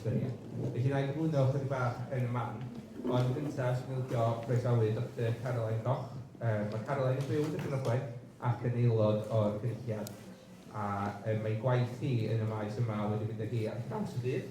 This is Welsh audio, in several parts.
Felly, wna i gyflwyno ychydig bach yn y man. Ond yn gyntaf, 'swn i'n licio croesawu Doctor Caroline Goch. Yy ma' Caroline yn byw yn Dibyn Ogwen ac yn aelod o'r Cynulliad, a yy mae ei gwaith hi yn y maes yma wedi mynd â hi ar draws y byd.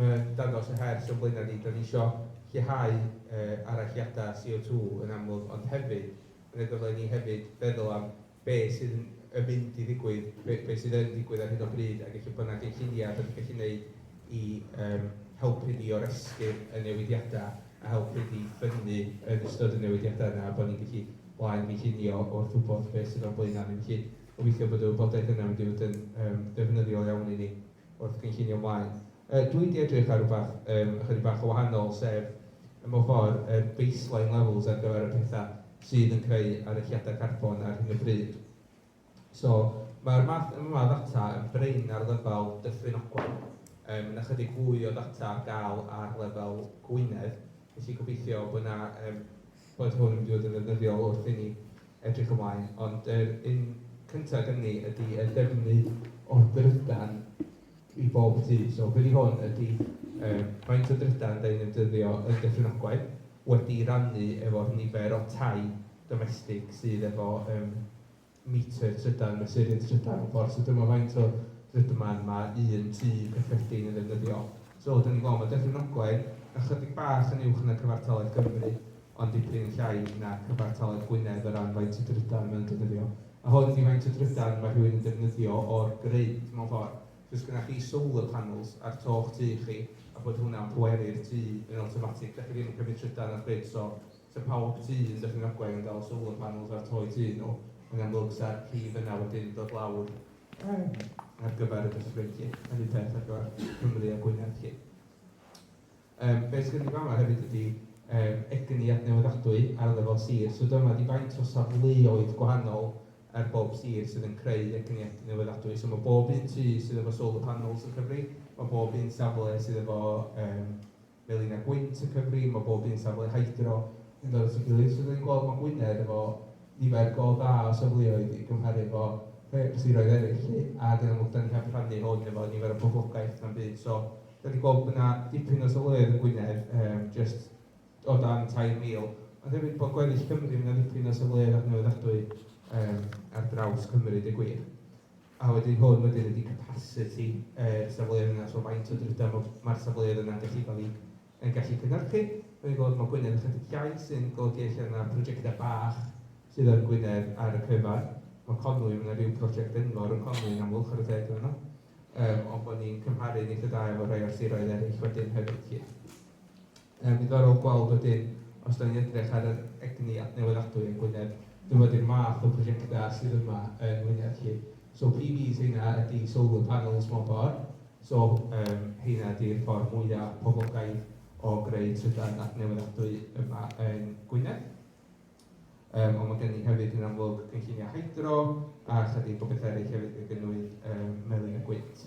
Mae dangos y her sy'n flaenau ni, da ni isio lleihau aralliadau CO2 yn amlwg ond hefyd yn y dylai ni hefyd feddwl am be sydd yn yn mynd i ddigwydd, be be sydd yn digwydd ar hyn o bryd ac ella bod yna gynlluniau da ni'n gallu neud i yym helpu ni oresgyn y newidiadau a helpu ni ffynnu yn ystod y newidiadau yna a bod ni'n gallu blaen gynllunio wrth wybod be sydd o'n blaenau ni. Felly gobeithio bod y wybodaeth yna yn mynd i fod yn yym ddefnyddiol iawn i ni. wrth gynllunio ymlaen. Yy dwi di edrych ar rwbath yym ychydig bach yn wahanol sef yy mewn ffor yr baseline levels ar gyfer y petha sydd yn creu arechiada carbon ar hyn o bryd. So ma'r math yma o ddata yn brin ar lefel Dyffryn Ogwen yym ma' na chydig fwy o ddata ar ga'l ar lefel Gwynedd felly gobeithio bo' na yym bod hwn yn mynd i fod yn ddefnyddiol wrth i ni edrych ymlaen, ond yr un cynta gynnon ni ydi y defnydd o'r drydan i bob tŷ. So be 'di hwn ydi yy faint o drydan 'dan ni'n ei ddefnyddio yn Dyffryn Ogwen wedi'i rannu efo'r nifer o tai domestig sydd efo yym metr trydan, mesur yn trydan mewn ffordd. So dyma faint o drydan mae un tŷ cyffredin yn ddefnyddio. So dan ni'n gweld mae Dyffryn Ogwen ychydig bach yn uwch na cyfartaledd Cymru, ond dipyn yn llai na cyfartaledd Gwynedd o ran faint o drydan mae nhw'n defnyddio. A hwn ydi faint o drydan mae rhywun yn defnyddio o'r grid mewn ffordd. So os gynnoch chi solar panels ar to'ch tŷ chi a bod hwnna'n pweru'r tŷ yn awtomatig, dach chi ddim yn cymryd trydan o'r grid, so Sa pawb tu yn Dyffryn Ogwen yn dal solar panels ar toi tu nhw, yn amlwg sa'r prif yna wedyn yn dod lawr yym ar gyfer y dyffryn 'lly, yr un peth ar gyfer Cymru a Gwynedd 'lly. Yym be' sy gen i fama hefyd ydi yym egni adnewyddadwy ar lefel sir, so dyma ydi faint o safleoedd gwahanol ar bob sir sydd yn creu egni adnewyddadwy, so ma' bob un tŷ sydd efo solar panels yn Cymru, ma' bob un safle sydd efo yym Melin a Gwynt y Cyfri, mae bob un safle hydro yn dod at ei gilydd so dan ni'n gweld mae Gwynedd efo nifer go dda o safleoedd i gymharu efo rhai o'r siroedd eraill 'lly ac yn amlwg dan ni heb rhannu hwn efo nifer o boblogaeth na'm byd so dan ni'n gweld bod 'na dipyn o safleoedd yn Gwynedd yym jyst o dan 3,000 ond hefyd bod gweddill Cymru mae 'na ddipyn o safleoedd adnewyddadwy yym ar draws Cymru deud gwir. A wedyn hwn wedyn ydi capasiti yr safleoedd yna, so faint o drydar ma' ma'r safleoedd yna'n gallu cael eu yn gallu cynhyrchu. Rwy'n gweld ma' Gwynedd ychydig llai sy'n golygu ella na prosiectau bach sydd yn Gwynedd ar y cyfan. Ma' Conwy, ma' 'na ryw brosiect enfawr yn Conwy yn amlwg, chwarae teg iddyn nhw. Yym ond bod ni'n cymharu'n eitha' da efo rhai o'r siroedd eraill wedyn hefyd 'lly. Mae'n ddiddorol gweld wedyn, os dan ni'n edrych ar yr egni adnewyddadwy yng Ngwynedd, dyma di'r math o brosiectau sydd yma yng Ngwynedd 'lly. So PBs heina ydy solar panels mewn ffordd, so yym heina ydy'r ffordd mwya' poblogaidd o greu trydan adnewyddadwy yma yng Ngwynedd. Yym ond mae gen ni hefyd yn amlwg gynlluniau hydro a chydig o bethau eraill hefyd gan gynnwys yym melin a gwynt.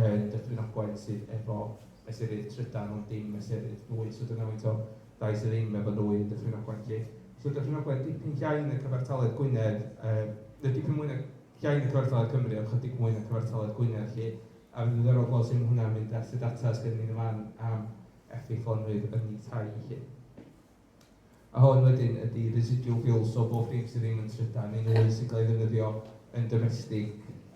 yn Dyffryn Ogwen sydd efo mesurydd trydan ond dim mesurydd nwy, so dyna faint o dai sydd ddim efo nwy yn Dyffryn Ogwen 'lly. So Dyffryn Ogwen dipyn llai na cyfartaledd Gwynedd yy na dipyn mwy na llai na cyfartaledd Cymru ond chydig mwy na cyfartaledd Gwynedd 'lly. A mae'n ddiddorol gweld sut mae hwnna'n mynd at y data sy' gennyn ni yn fan am effeithlonrwydd ynni tai 'lly. A hwn wedyn ydi residual fuel, so bob dim sydd ddim yn trydan neu nwy sy'n cael ei ddefnyddio yn domestig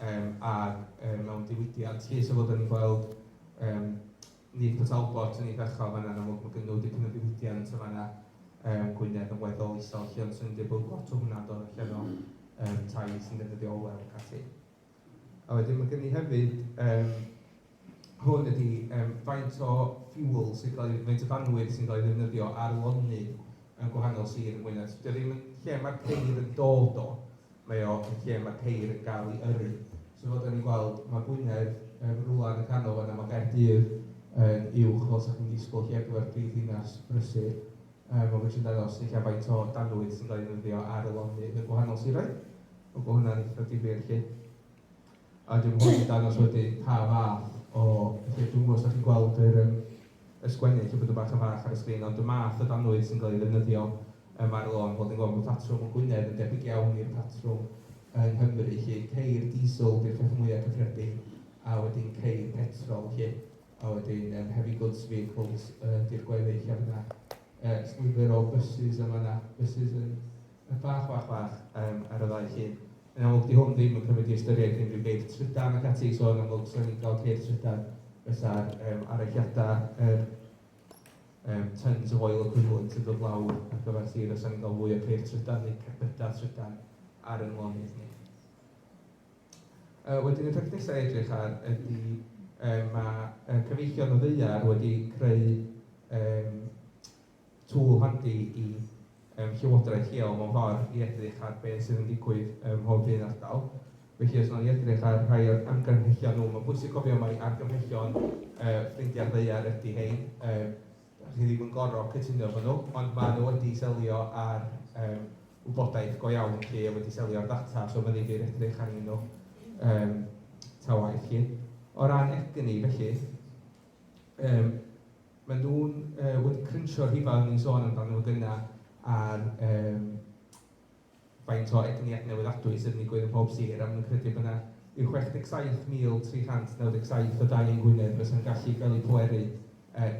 yym ac yy mewn diwydiant 'lly. So fel dan ni'n gweld yym nyth Port Talbot yn eitha' uchel fan'na yn amlwg, ma' gynno nhw dipyn o ddiwydiant yn fan'na yym Gwynedd yn weddol isel 'lly ond 'swn i'n deud bod lot o hwnna'n dod allan o yym tai sy'n defnyddio olew ac ati. A wedyn ma' gen i hefyd yym hwn ydi yym faint o fuel sy'n cael ei... faint o fanwydd sy'n cael ei ddefnyddio ar lonydd yn gwahanol sir yng Ngwynedd. So 'di o ddim yn lle ma'r ceir yn dod o, mae o yn lle ma'r ceir yn gael ei yrru. So fel 'dan ni'n gweld ma' Gwynedd yym rwla yn y canol fan'na, ma' Caerdydd yn uwch fel 'sa chi'n disgwyl lle ar gyfer prif ddinas brysur yym a ma' jyst yn dangos ella faint o danwydd sy'n cael ei ddefnyddio ar y lonydd yn gwahanol siroedd. Wel mae hwnna'n eitha difyr 'lly. A wedyn mae hwn yn dangos wedyn pa fath o pethau, dwi'm yn gwybod os dach chi'n gweld yr yym y sgwennu 'lly bod o bach yn fach ar y sgrin ond y math o danwydd sy'n cael ei ddefnyddio yym ar y lôn, fel dwi'n gweld bod patrwm yn Gwynedd yn debyg iawn i'r patrwm yng Nghymru 'lly, ceir diesel 'di'r peth mwya' cyffredin a wedyn ceir petrol 'lly. a wedyn yym heavy goods vehicles yy ydy'r gweddill a ma' 'na yy jyst nifer o buses yn fan'na, buses yn yn bach bach bach yym ar y ddau llun. Yn amlwg 'di hwn ddim yn cymryd i ystyriaeth unrhyw geir trydan ac ati, so yn amlwg 'sa ni'n cael ceir trydan fysa'r yym aralliadau yr yym tons of oil equivalent yn dod lawr ar gyfer sir a 'sa ni'n cael fwy o ceir trydan neu cerbydau trydan ar ein lonydd ni. Yy wedyn y peth nesa' i edrych ar ydi yym ma' yy cyfeillion y ddaear wedi creu yym tool handi i yym llywodraeth lleol mewn ffor' i edrych ar be' sydd yn digwydd ym mhob un ardal. Felly os nawn ni edrych ar rhai o'r argymhellion nhw, ma'n bwysig cofio mai argymhellion yy ffrindiau'r ddaear ydi rhein, yy Chi ddim yn gorfod cytuno efo nhw, ond maen nhw wedi selio ar yym wybodaeth go iawn 'lly a wedi selio ar ddata, so fyddi di'n edrych arnyn nhw yym ta waeth 'lly. O ran egni felly, yym maen nhw wedi cryntio'r rhifau o'n i'n sôn amdano fo gynnau ar yym Faint o egni adnewyddadwy sydd yn digwydd ym mhob sir, a maen nhw'n credu bod 'na ryw 67,397 o dai yng Ngwynedd fysa'n gallu cael eu pweru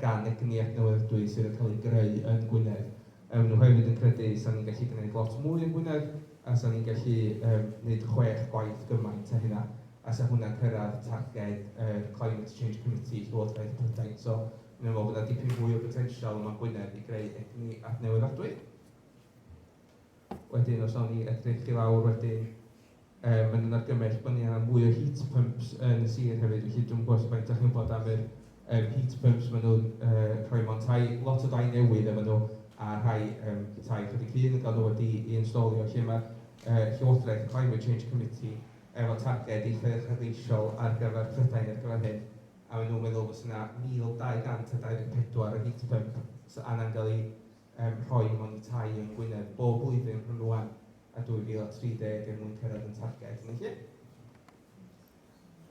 gan egni adnewyddadwy sydd yn cael ei greu yn Gwynedd. Yy maen nhw hefyd yn credu 'sa ni'n gallu gwneud lot mwy yn Gwynedd, a 'sa ni'n gallu yym wneud chwech gwaith gymaint a hynna, a 'sa hwnna'n cyrraedd targed yr Climate Change Committee i Llywodraeth Prydain. So maen nhw'n meddwl bod 'na dipyn fwy o botensial yma yn Gwynedd i greu egni adnewyddadwy. Wedyn os awn ni edrych i lawr wedyn yy ma' 'na argymell bod ni angen mwy o heat pumps yn y sir hefyd felly dwi'm yn gwybod faint dach chi'n wybod am yr yym heat pumps maen nhw'n yy rhoi mewn tai, lot o dai newydd efo nhw a rhai yym tai chydig hŷn yn cael nhw wedi'i instalio lle ma'r yy Llywodraeth Climate Change Committee efo targed eitha' uchelgeisiol ar gyfer Prydain ar gyfer hyn a maen nhw'n meddwl fysa 'na mil dau gant a dau ddeg pedwar o heat pumps angen cael eu er rhoi mond y tai yng Ngwynedd bob blwyddyn rhwng rwan a 2030 er mwyn cyrraedd ein targed, neu lle.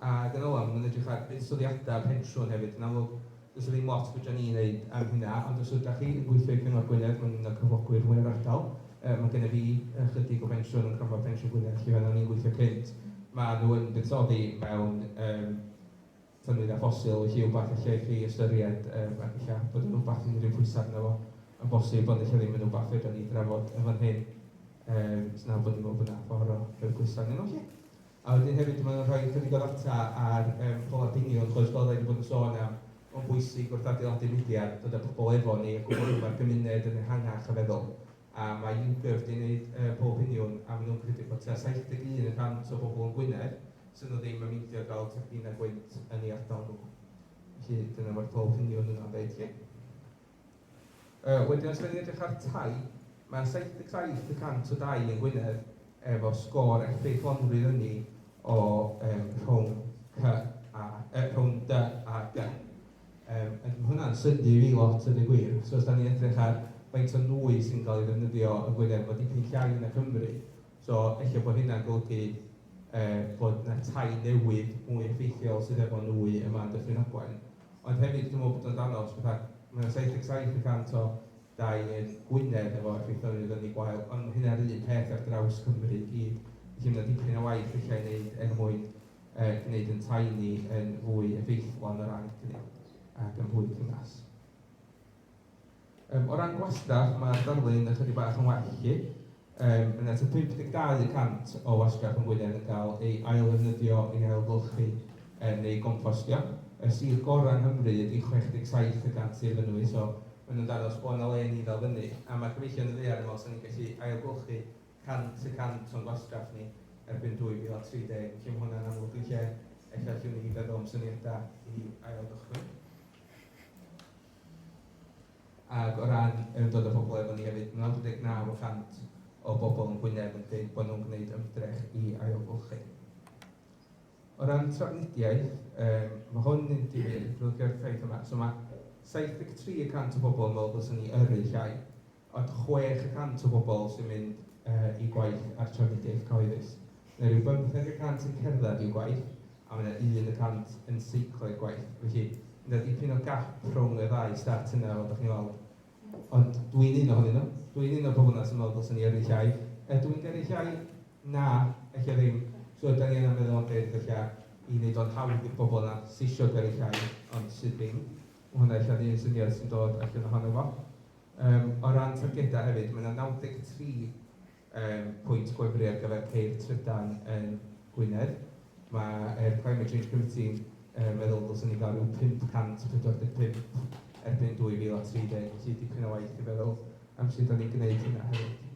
A dyna fo, mae'n edrych ar buddsoddiadau pensiwn hefyd, yn amlwg does 'na ddim lot fedra ni wneud am hynna, ond os ydach chi yn gweithio i Gyngor Gwynedd, mae'n un o'r cyflogwyr mwya'r ardal, yy mae gennyf fi ychydig o bensiwn yn Cronfa Pensiwn Gwynedd lle roeddwn i'n gweithio cynt, maen nhw yn buddsoddi mewn yym tynnwyd â ffosil, felly wbath ella i chi ystyried yym ac ella bod yn wbath sy'n rhyw pwysa arno fo yn bosib ond ella ddim yn wbath fedra ni drafod yn fan hyn yym os na bod ni'n meddwl bod na ffor o rhoi pwysa arnyn nhw felly. A wedyn hefyd mae o'n rhoi chydig o ddata ar yym pobl ar binio yn Clwyd Gole'n yn bod yn sôn am mae'n bwysig wrth adeiladu mudiad dod a pobl efo ni a gwbl am y gymuned yn ehangach a feddwl a mae YouGov wedi gwneud pob union a maen nhw'n credu bod tua 71 y cant o bobl yn Gwynedd sydd nhw ddim yn meindio i gael teclyn a gwynt yn ei ardal nhw. Felly dyna mae'r pob union yna'n dweud chi. Wedyn os rydyn ni'n edrych ar tai, mae 77 y cant o dai yn Gwynedd efo sgôr effeithlonrwydd ynni o rhwng C a G. Yym, ac ma' hwnna'n synnu i fi lot deud y gwir, so os 'dan ni'n edrych ar faint o nwy sy'n cael ei ddefnyddio yn Gwynedd, ma' dipyn llai na Cymru, so ella bod hynna'n golygu yy bod 'na tai newydd mwy effeithiol sydd efo nwy yma yn Dyffryn Ogwen. Ond hefyd dwi'n meddwl bod o'n dangos fatha ma' 'na 77 y cant o dai yn Gwynedd efo effaith o nwy fyny gwael, ond ma' hynna'r un peth ar draws Cymru i gyd. Felly ma' 'na dipyn o waith ella i wneud er mwyn er gwneud ein tai ni yn fwy effeithlon o ran cynnig ac yn fwy cynnas. Um, o ran gwastraff, mae'r darlun ychydig bach yn well i chi. Um, yna ta 52 y cant o wasgarth yn Gwynedd yn cael ei ailddefnyddio i ailgylchu um, neu gompostio. Y sir gorau yng Nghymru ydy 67 y cant i'r fynwy, so maen nhw'n danos bod yna le ni ddal fyny. A mae cyfeillion yn ddeall yn meddwl sy'n ni'n gallu ailgylchu 100 y cant o'n gwastraff ni erbyn 2030. Felly, mae hwnna'n amlwg yn lle ella allwn ni feddwl am syniadau i ail-gychwyn. Ac o ran ymdod â phobl efo ni hefyd, mae 99 y cant o bobl yn Gwynedd yn dweud bod nhw'n gwneud ymdrech i ailgylchu. O ran trafnidiaeth, um, mae hwn yn difyr, ddylgio'r ffaith yma. So mae 73 y cant o bobl yn meddwl bod ni yrru llai. Ond chwech y cant o bobl sy'n mynd i gwaith ar trafnidiaeth cyhoeddus. Mae rhyw bymtheg y cant yn cerdded i'w gwaith, a mae 'na un y cant yn seiclo i'r gwaith. Felly, mae 'na dipyn o gap rhwng y ddau stat yna, fel dach chi'n weld. Ond dwi'n un ohonyn nhw. Dwi'n un o'r pobl yna sy'n meddwl dylsen ni yrru llai. Ydw i'n gyrru llai? Na, ella ddim. So ydan ni yna meddwl am be' ydych ella i wneud o'n hawdd i'r bobl yna sy isio gyrru llai ond sydd ddim. Mae hwnna ella'n un syniad sy'n dod allan ohono fo. Yym, o ran targedau hefyd, mae 'na 93 yym pwynt gwefru ar gyfer ceir trydan yn Gwynedd. Mae'r Climate Change Committee yn meddwl ddylsen ni gael rhyw 545 erbyn 2030, felly dipyn o waith i feddwl am sut dan ni'n gwneud hynna hefyd.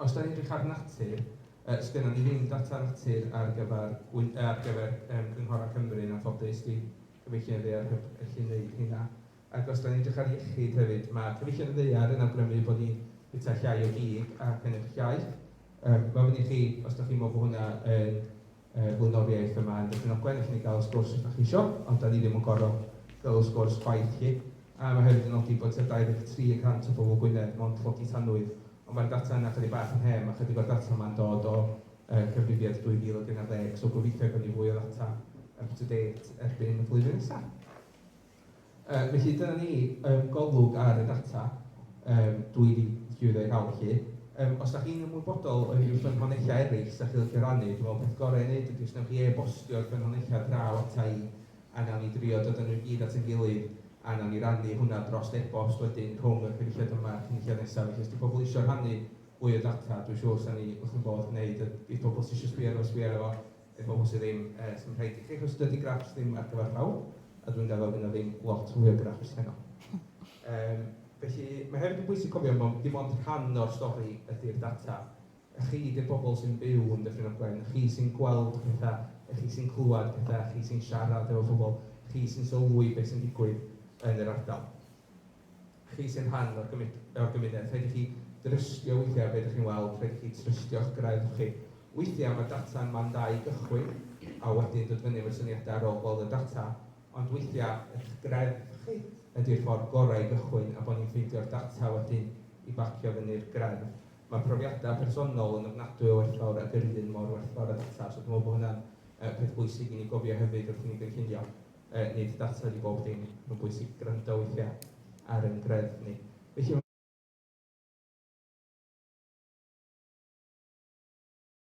Os dan ni'n edrych ar natur, yy sgynnon ni ddim data natur ar gyfer Gwy-, ar gyfer yym cynghorau Cymru yn anffodus, dwi'n gobeithio i'r ddaear hyb gallu wneud hynna. Ac os dan ni'n edrych ar iechyd hefyd, mae Cyfeillion y Ddaear yn awgrymu bod ni'n bwyta llai o gig ac yn edrych iaeth. Mae ofyn i chi, os dach chi'n meddwl bod hwnna yn yy flaenoriaeth yma yn Dyffryn Ogwen, allwn ni gael y sgwrs os dach chi isio, ond dan ni ddim yn gorfod cael y sgwrs chwaith 'lly. A mae hefyd yn nodi bod tua 23 y cant o bobl Gwynedd mond tlodi tanwydd, ond mae'r data yna chydig bach yn hen, mae chydig o'r data yma'n dod o yy Cyfrifiad 2013, so gobeithio gawn ni fwy o ddata up to date erbyn y flwyddyn nesa. Yy felly dyna ni yym Golwg ar y data yym 2018 felly. Yym os dach chi'n ymwybodol o unrhyw ffynhonnellau eraill 'sa chi'n licio rannu, dwi'n meddwl peth gorau i wneud ydy os wnewch chi e-bostio'r ffynhonnellau draw ata i a wnawn ni drio dod â nhw i gyd at ein gilydd a wnawn ni rannu hwnna dros e-bost wedyn rhwng y Cynulliad yma a'r Cynulliad nesaf. Felly os 'di pobl isio rhannu mwy o ddata dwi'n siŵr 'sa ni wrth ein bodd gwneud a i pobl sy isio sbio arno fo sbio arno fo. I bobl sydd ddim, yy, sy'n rhaid i chi achos dydy graffs ddim ar gyfer pawb, a dwi'n gaddo fy' 'na ddim lot fwy o graffs heno. Yym, felly, mae hefyd yn bwysig cofio mond, dim ond rhan o'r stori ydi'r data. Chi 'di'r bobl sy'n byw yn Dyffryn Ogwen, chi sy'n gweld petha, chi sy'n clywed petha, chi sy'n siarad efo pobl, chi sy'n sylwi be' sy'n digwydd yn yr ardal. Chi sy'n rhan o'r o'r gymuned, rhaid i chi drystio weithiau be dych chi'n weld, rhaid i chi trystio'ch gwraidd chi. Weithiau mae data'n man da i gychwyn, a wedyn dod fyny efo'r syniadau ar ôl gweld y data, ond weithiau eich gwraidd chi ydy'r ffordd gorau i gychwyn a bod ni'n ffeindio'r data wedyn i bacio fyny'r gwraidd. Mae profiadau personol yn ofnadwy o werthfawr ac yr un mor werthfawr â data, so dwi'n meddwl bod hwnna'n yy peth bwysig i ni gofio hefyd wrth i ni gynllunio. Yy nid data ydy bob dim, mae'n bwysig gwrando weithiau ar ein gwreddf ni. Felly,